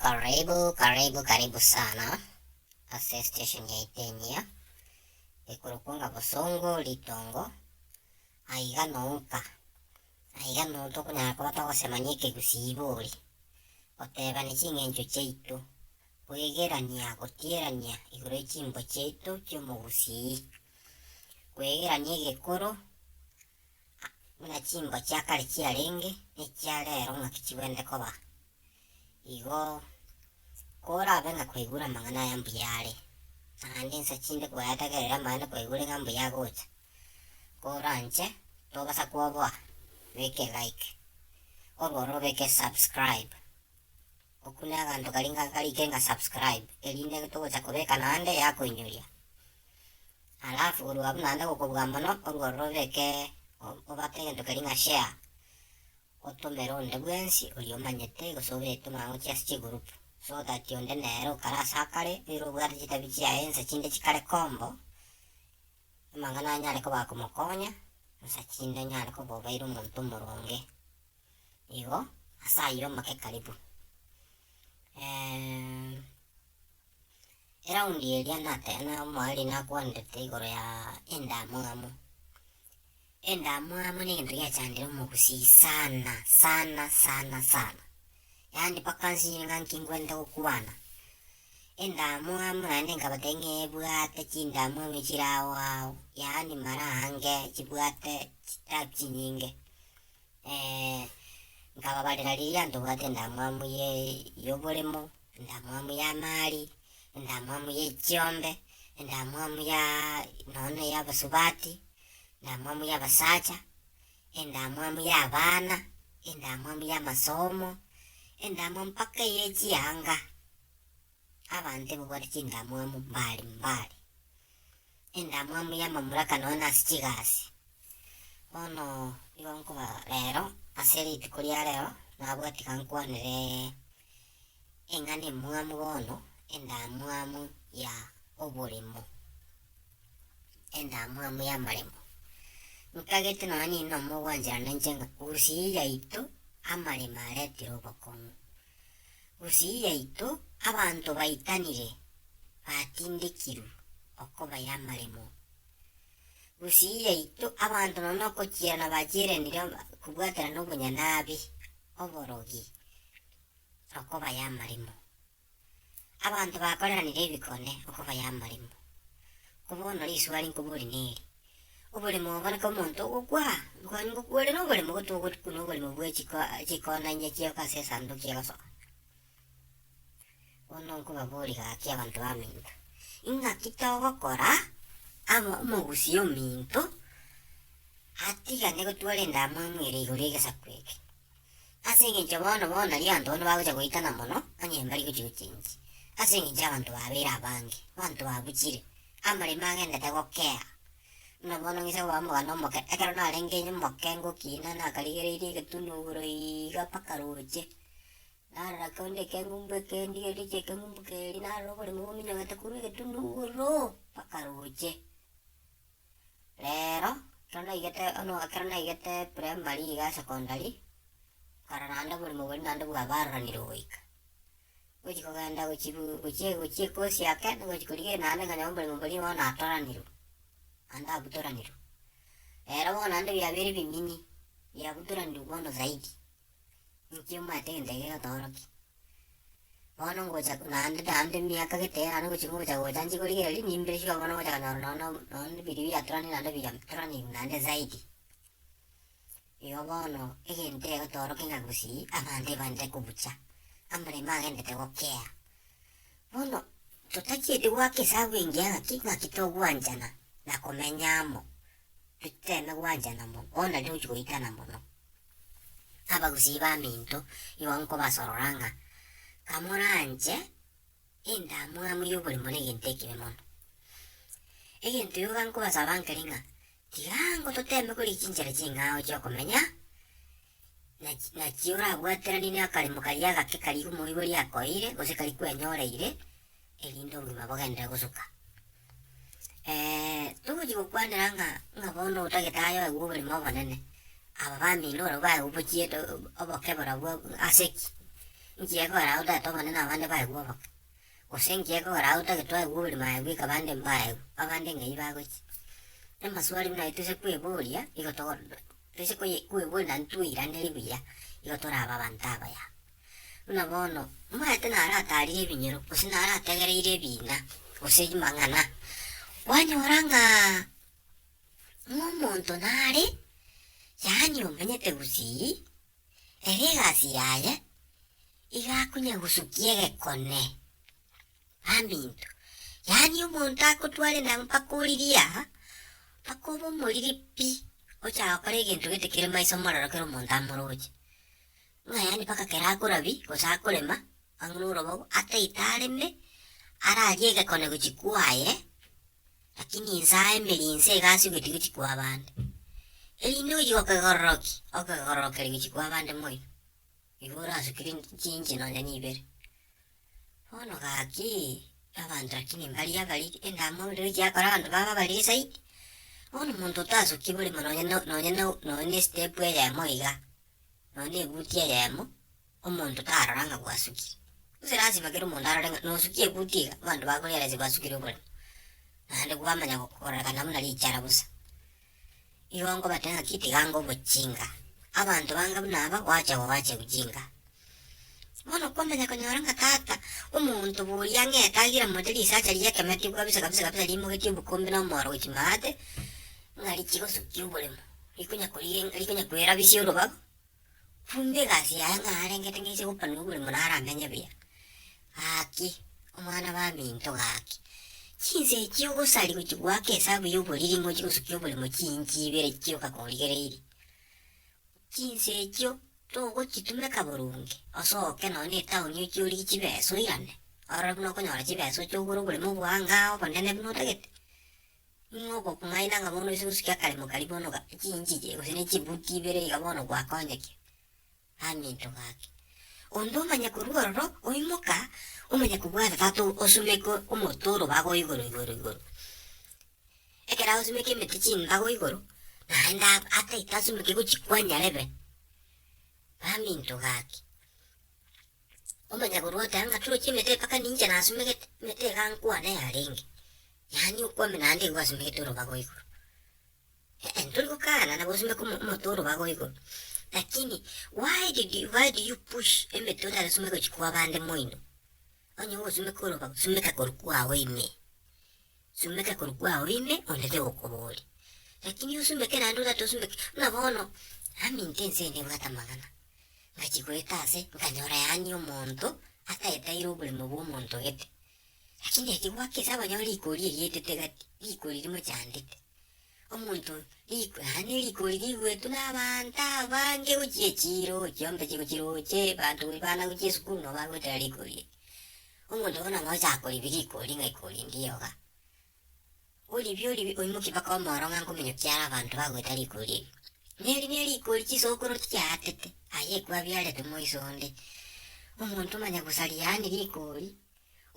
Karibu karibu karibu sana ase station yaito enyia, ekorokwa ng'a bosongo ritongo, aiga nouka, aiga nonya tokonyara koba togosemania ekegusii ibori, gotebani ching'encho chiaito, koegerania gotierania igoro ye chimbo chiaito chiomogusii, koegerania egekoro buna chimbo chia kare chiarenge, nechia rero ng'aki chibwenerete koba. Igo korabe ng'a kwaigure amang'ana aya mbuya are, naende ensa chinde kwayatagerera amaene kwaigure ng'a mbuya agocha, koranche tobasa koboa, beka elike, korwa ororo beka esubscribe. Oku ne aganto karia ngakarike nga subscribe erinde togocha kobeka naende yakoinyoria. Alafu korwa abwo naende gokobua mono orworo robeke obate egento keria nga share otomere onde bwensi oria omanyete gose obeke mang'ochi ase chi group so that onde nere okare ase akare oire obwate chitabi chiaye ense chinde chikare kombo amang'ana anyare koba akomokonya ensa chinde anyare koba obaire omonto omoronge. igo ase ayio omwaka ekaribu. eraundi eria nate omoriri nakwanete igoro ya endamwamu, endamwamu ne egento giachandire omogusii sana sana sana sana, yaani mpaka nsinyire ng'a nkigwenerete gokwana, endamwamu naende nkabatebia ng'a ebwate chindamwamu chire ao ao, yaani mara ange chibwate chitabu chinyinge. nkababarera riria ntobwate endamwamu ye yoboremo, endamwamu yamari, endamwamu ye chiombe, endamwamu ya nonya ya abasubati, endamwamu ya abasacha, endamwamu ya abana, endamwamu ya amasomo, endamwamu mpaka ye chianga. Abanto ebabwate chindamwamu mbari mbari, endamwamu y'amamuraka nonya nase chigasi. Bono nigo nkoba rero, ase rituko ria rero, nabwati iga nkwanere eng'ana emwamu bono, endamwamu ya oboremo, endamwamu y'amaremo. Nkagete nonya ninde omo ogwanchera ninche ng'a gusii yaito amaremo aretire obokong'u. Gusii yaito abanto baitanire batindekirwe okobaira amaremo. Gusii yaito abanto nonya nokochierana bachieranire kobwaterana obonyanabi, oborogi, okobaira amaremo. Abanto bakoreranire ebikone okobaira amaremo. Ko bono riswali nkobori neri, Oborimo ogokora omonto ogokwa, nkobani ngokuorere oborimo gotogoti buna oborimo bwe chiko chikona inye chioka ase esanduki egosoka. Bono nkobaboria gaki abanto baminto, ing'aki togokora amo omogusii ominto atigane gotwara endamwamu ere igoro y'egesaku eke. Ase engencho bono bono erio abanto bono bagocha goetana mono, onye mbari gochia gochengi, ase engencho y'abanto babeire abange, abanto babuchire, amaremo agendete gokea. Buna bono ng'ise koba omogano omoke, ekero narenge omoke ngokina nakarigereirie egetunwa igoro iiga mpaka roche, narora korende ekengumbu eke ndigereiri chia ekengumbu keria narora oboremo bominyogete korwa egetunwa igoro mpaka roche. Rero ekero naigete ono ekero naigete primary igaa secondary, korora naende oboremo boria naende bwabaroranire goika. Gochia kogenda gochia bu gochia gochia ekosi ake nigochia korigereria naende nkonye oboremo boria bono natoranirwe, naende abutoranirwe. Rero bono naende biabeire bimini biabutoranirwe bono zaidi. Nki omanyete egento eke getorokia? Bono ngocha naende naende emiaka gete eyio naende ngochi ngocha gocha nchikorigereria nimbire sure bono ngocha konyora nonye na nonye na ebirio biatoranirie naende ebiya bitoraneti naende zaidi. Igo bono egento egotorokia ng'a gosii abanto ebaanchete kobucha, amarembe agenderete gokea. Bono totachieti goaka esabu engiya ng'aki ng'aki togwanchana na komenya amo, tochiteme gwanchana mono bono nari togochi goitana mono. abagusii b'aminto igo nkobasorora ng'a kamoranche endamwamu y'oborimo negento ekibe mono. Egento iga nkobasaba nkere ng'a tiga ango toteeme kore chinchera ching'ao chi'okomenya, nachi nachio orabwateranie nakaremo karia agake karia omoibori akoeire gose karia kwenyoreire. erinde obogima bogenderere gosuka. togochia gokwanera ng'a ng'a bono otagete aye oegwe oborimo obonene, aba bamino barabwo baye obochiete oboke barabwo ase ki? Nki ekogera aye otagete obonene abande baegwe oboke? Gose nki ekogera aye otagete oegwe oborimo aye bweka abande mbaegwe, abande ng'ai bagochia? Namaswali buna aye toise kweboria nigo togo toise koye kweboria naende twairaneria buya, nigo torabe abanto abaya. Buna bono, omonyaneete narataarire ebinyero, gose narategereire ebiina, gose amang'ana, kwanyora ng'a ng'omonto nare, yaani omenyete gusii, ere egasi yaye iga akunye gosukia egekone baminto. Yaani omonto agotware nabo mpaka oririe aa, mpaka obe omoriri pi, ochaka gokora egento gete kere maiso mororo kere omonto amoroche. Ng'a yaani mpaka kera akorabia gose akorema ang'e norobogo ataito areme ararie egekone gochia kwaye, lakini inse aye emeeri inse iga ase ogoiti gochia kwa abande. Erinde ochi gokegororokia, okegororokeria gochia kwa abande moyo, igo orasukire inch- chinche nonya na ibere. Bono gaki, abanto lakini mbari abari endamwamu ndiri chiakora abanto baba abariri zaidi, bono omonto otasuki borimo nonya no nonya no nonya na estep eyemo iga. nonya nebuti eyemo, omonto tarora ng'a gwasukire. Gose lasima kera omonto arore ng'a nosukia ebuti iga abanto bakorealize gwasukire oboremu, naende kwamanya gokorekana buna richara bosa. Igo nkobatebia ng'aki tiganga obochinga, abanto bange buna aba gwacha gobacha ojinga. Bono kwamanya konyora ng'a tata omonto boria ng'ete agire momote risacha riye ekemo etigwa kabisa kabisa rimogetie obokombe na omoro gochia maate, ng'a richigosukia oboremo. rikonyakwera bisia orobabu, bumbe egasi yaye ng'a arengete ng'a ase obopanwa bore monwe aramenye buya. Gaki, omwana baminto gaki, chinsa echi ogosari gochia goaka esabu ya oboriri ng'a ochie gosukia oborimo chiinchi ibere chio kakorigereiri, chinsa echio togochitumeka boronge osoke nonye na etown ochie origie chibesa oirane, ororo buna okonyora chibesa ochie ogore oborimo bwa ang'aa obonene buna otagete. Ng'a ogokumaina ng'a bono ase obosuki akare mokari bono ga chinchige gose ne chibuti ibere iga bono gwakonyeke aminto gake. Onde omanye korwa ororo oimoka omanye kobwata tata osumeke omote oro bago igoro igoro igoro. Ekero asumeke emete chimbago igoro naende ataete asumeke gochia kwanyarebe aminto gake. Omonyagoro agateba, Ngaturokia emete mpaka ninche nasumegete, emete egankwana eyarenge, yaani okwame naende igo gwasumegete orobago igoro. Eeh ntori gokana nabo osumeke omote orobago igoro, lakini why did you why do you push emete otari gosumeka gochia kwa abande moino? Onye ogosumeka orobago, sumeka korwa kwao ime. Sumbeka korwa kwao ime ondete gokobori. Lakini osumbeke naende otato osumbeke, buna bono naminto ense ende ebwate amang'ana, ngachi goeta ase nkanyora yaani omonto ataetaire oboremo bwa omonto gete. Lakini eki gwaka ase abanyoro rigori erietete gati, rigori rimochandete. Omonto oyo riko yaani rigori riguetwe na abanto abange gochia echiro, chiombe chigo chiroche, abanto buna bana gochia esukuru nabo bagoetera rigori eri. Omonto bono nonya gocha koribia rikori ng'a ikori ndiye oga. Oribie oribie oimokie mpaka omoro ng'a nkominyokia are abanto bagoeta rikori erio. Neri ne rikori chisokoro tichiaatete aye kwabiarete moiso onde. Omonto omanye gosaria yaani rikori,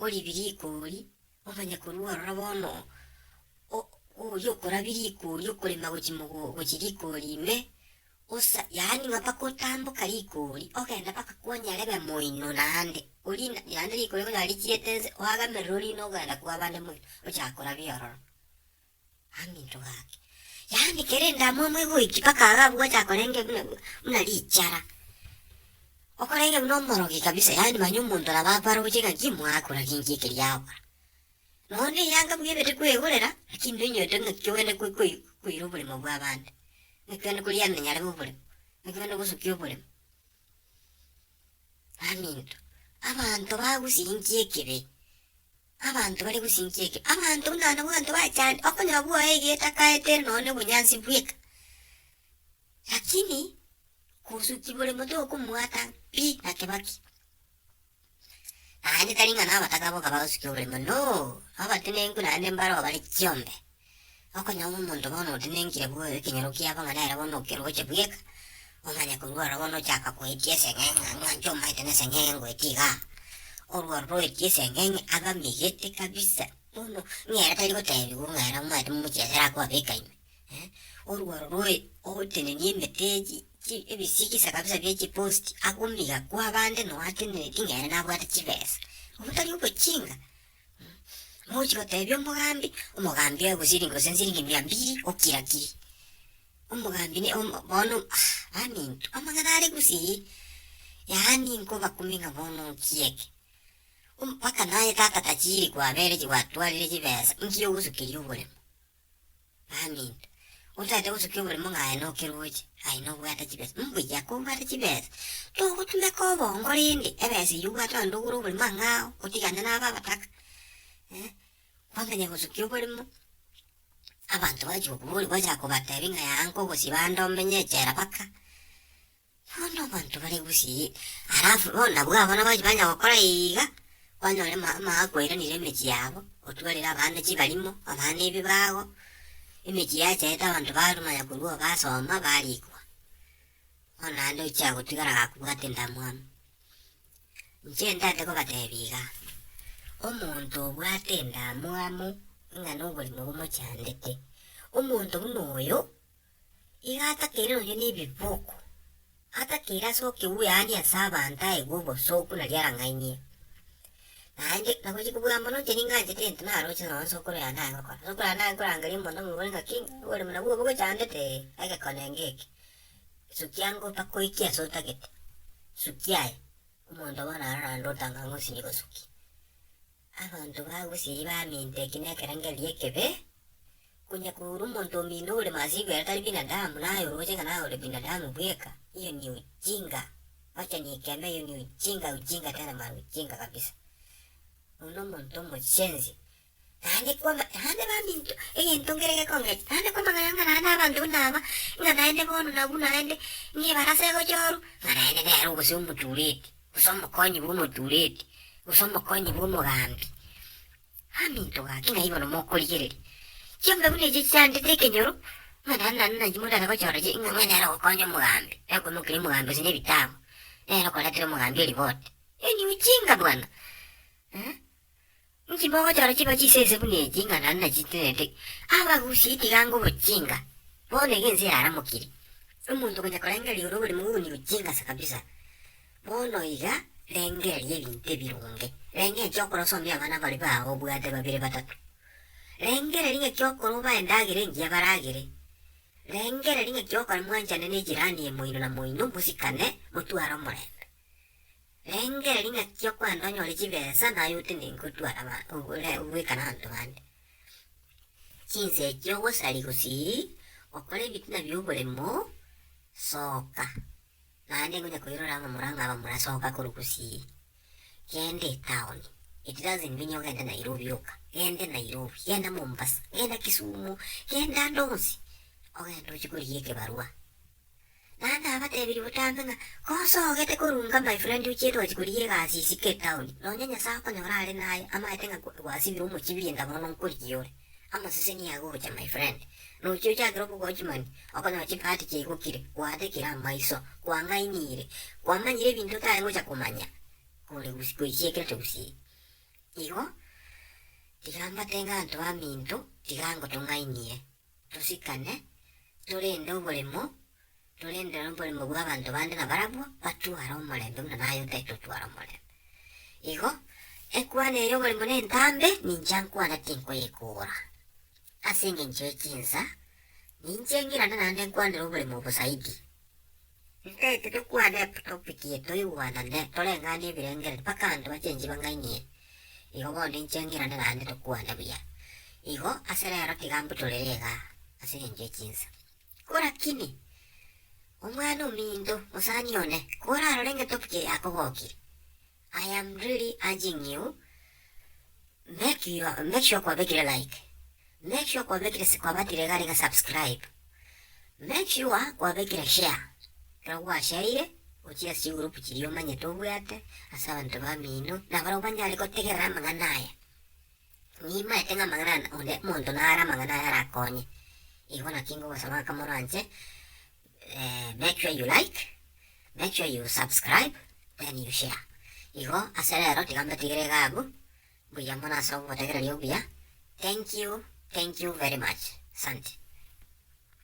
oribie rikori, Omanye korwa ororo bono, o- oria okorabiria rikori okorema gochia mogo gochia rikori ime, osa, yaani ng'a mpaka otamboka rikori ogenda mpaka kwanyare b'emoino naende, orie na naende rikori ekonyora richiete nse oagamerere orie nogenda kwabande moino ochaka korabia ororo. Aminto gake, yaani kerende amo amo egoiki mpaka iga abwo gwachaka korenge buna buna richara. Okorenge buna omorogi kabisa yaani manya omonto nabo akware gochia ng'a ki mwakora ki nki ekeri yakora. Nonya na eyanga buya ebete kwegorera lakini noinyote ng'aki ogende ko- koi koira oboremo bwa abande, ng'aki ogende koriana nyarebe oboremo, ng'aki ogende gosukia oboremo. Aminto, abanto bagosinchia ekibe. Abanto bare gosinchia eke, abanto buna nabwanto bachande, okonyora bwoye iga etakaete ere nonye obonyansi bweka. Lakini kosuki bore moto okomwata pi na kibaki. Naende tari ng'a nabataka boka bagosukia oborimo, no, abatenenku naende mbaro bare chiombe. Okonyora omonto bono otenenekire bwe ekenyoro kiabo ng'a nere bono okeroche bweka, omanye korwa oro bono ochaka koetia eseng'eng'e ng'a ng'ancho omaete na eseng'eng'e ngoeti iga. Orwa oro oetia eseng'eng'e abamegete kabisa bono ng'a ere tari gotebiwa ng'a ere omanyete momochie ase arakoabeka ime. Orwa oro oe otenenie emete echi chi ebisigisa kabisa bie chipost akomiga kwa abande noo atenereti ng'a ere nabwate chibesa. Obwo tari obochinga. Mogochia gotebia omogambi, omogambi oye gose ring gose nsiringi mia mbiri okira kiri. Omogambi ne om bono ah baminto amang'ana are gusii, yaani nkobakumia ng'a bono nkie eke. Mpaka naye tata tachiiri kwabereti gwatwarire chibesa, nki ogosukeria oboremo. Amen. Otaete gosukia oboremo ng'a aye nokeroche, aye nobwate chibesa. Mbuya kobwate chibesa, togotumeka obongo rende, ebesa eyio obwate onde ogure oboremo ang'ao, otigane naba abataka. Eh, kwamanya gosukia oboremo, abanto bagochi gokoboria, gwachaka kobatebia ng'a yaya nka ogosiba ande omenye echela baka. Igo nabanto bare gusii alafu bono nabwo abo nabachi banya gokora iiga, kwanyora ma amaaga kwairanire emechie yabo, otwarire abande chibarimo, abande ebibago, emechie yachaete abanto barwa manya korwa oo basoma barikwa. Bono naende ochia gotigara gakobwate endamwamu. Inche ndate kobatebi iga, omonto obwate endamwamu ng'a noborimo bumochandete, omonto buna oyo. Iga atakeire nonya nebiboko, atakeire ase okegwe yaani ase abanto aegwe obosooku nario arang'ainie. Naende nagochia kobua mono inche ninganchete egento naroche nonya ase okoro yane aye gokora. Ase okoro yane aye nkorangeria omonto omobore ng'aki oboremu nabwo obo gochandete egekone enge eke, sukia ango mpaka oikie ase otagete, sukia aye, omonto bono aro naende otang'ang'e osinye gosukia. Abanto bagusiri bamintoki nekerengerio gi'ekebe, konya koura omonto omino ore masigo ere tari binadamu, naye oroche ng'a naye ore binadamu bweka, hiyo ni ujinga, wacha nikembe hiyo ni ujinga, ujinga tena mara ujinga kabisa. Oyio nomonto omoshenzi. Naende kwama naende baminto egento nkere gekongecha naende kwamang'ana ng'a naende abanto buna aba, ng'a naende bono nabwo naende, ng'a ebarasa egochorwa, ng'a naende nere ogose omotureti. gose omokonyi bw'omotureti, gose omokonyi bw'omogambi, Aminto gaki ng'a igo nomokorigereria. Chiombe buna echi chiandete ekenyoro, ng'a naende naende nainche motacha gochora chi ng'a ng'ai nere ogokonya omogambi, nere okoimokeria omogambi gose nebitabu, nere okoretera omogambi eriboti. Enywe chinga bwana, eh. Inki mogochora chiba chisese buna echi ng'a nare nachitinerete? Abagusie tiga ngobochinga, bono iga ense yaramokire. Omonto ogocha korengereria ore oborimo bw'obonyiru chingasa kabisa. Bono iga, rengereria ebinto ebironge. Renga enchera okore osomie abana baria bao obwate babere batato. Rengereria ng'aki okore obae endagera engiya baragere. Rengereria ng'aki okore mwanchane ne ejirani ye moino na moino, mosikane, motware omorembe. Rengera ring'aki gi'okwanda onyore chibesa naye ote ningotwara aba- obore- ogoika nabanto bande. Chinsa echio ogosari gosii, okore ebitina bi'oboremo, soka, naende ngonya koirora abamura ng'a abamura soka korwa gosii, genda etown, it doesn't mean ogende Nairobi oka, genda Nairobi, genda Mombasa, genda Kisumu, genda ande onsi, ogende oche korigia ekebarua. Naende abatebirie botambe ng'a, Kosa ogete korunga my friend ochie twachie korigia egasi isiko etown, nonya Nyasae okonyora are naye amaete ng'a gwasibire omochibirie enga mono nkorigia ore. Amaseseni agocha my friend. Nochie ochakire obogochimani, okonyora chibahati chiaigokire, gwatekire amaiso, kwang'ainire, kwamanyire ebinto otari gocha komanya kore gusii goisiekirete gusii. Igo tiga mbate ng'a ntwaminto tiga ngotong'ainie. tosikane, torende oboremo, torende noboremo bw'abanto bande nabarabwo batware omorembe buna naye otae totwara omorembe. Igo, ekwano eye y'oboremo na entambe, ninche nkwana tinkoyekora. Ase engencho ye chinsa, ninche ng'irana naende nkwanere oboremo obo zaidi. Nkaete tokwane eptopiki eye toigwanane, toreng'ane ebirengererio mpaka abanto bachenchwe bang'ainie. Igo bono inche ng'irane naende tokwane buya. Igo ase rero tiga mbutorere iga ase engencho ye chinsa. Ko rakini, omwana ominto, mosani one, korarore ng'etopiki eye akogokia, I am really urging you make your make sure kwabekire like make sure kwabekire si kwabatire iga niga subscribe make sure kwabekire share ekero gwashereire ochie ase chigroup chiria omanyete obwate ase abanto bamino na barabwo banyare gotegerera amang'ana aya nimaete ng'a amang'ana aya onde omonto nare amang'ana aya arakonye igo naki ngogosaba ng'a kamo oranche. make sure you like, make sure you subscribe, then you share. Igo ase rero tiga mbetigere iga abwo, mbuya mono ase obomotegereri obuya. Thank you, thank you very much. Asante.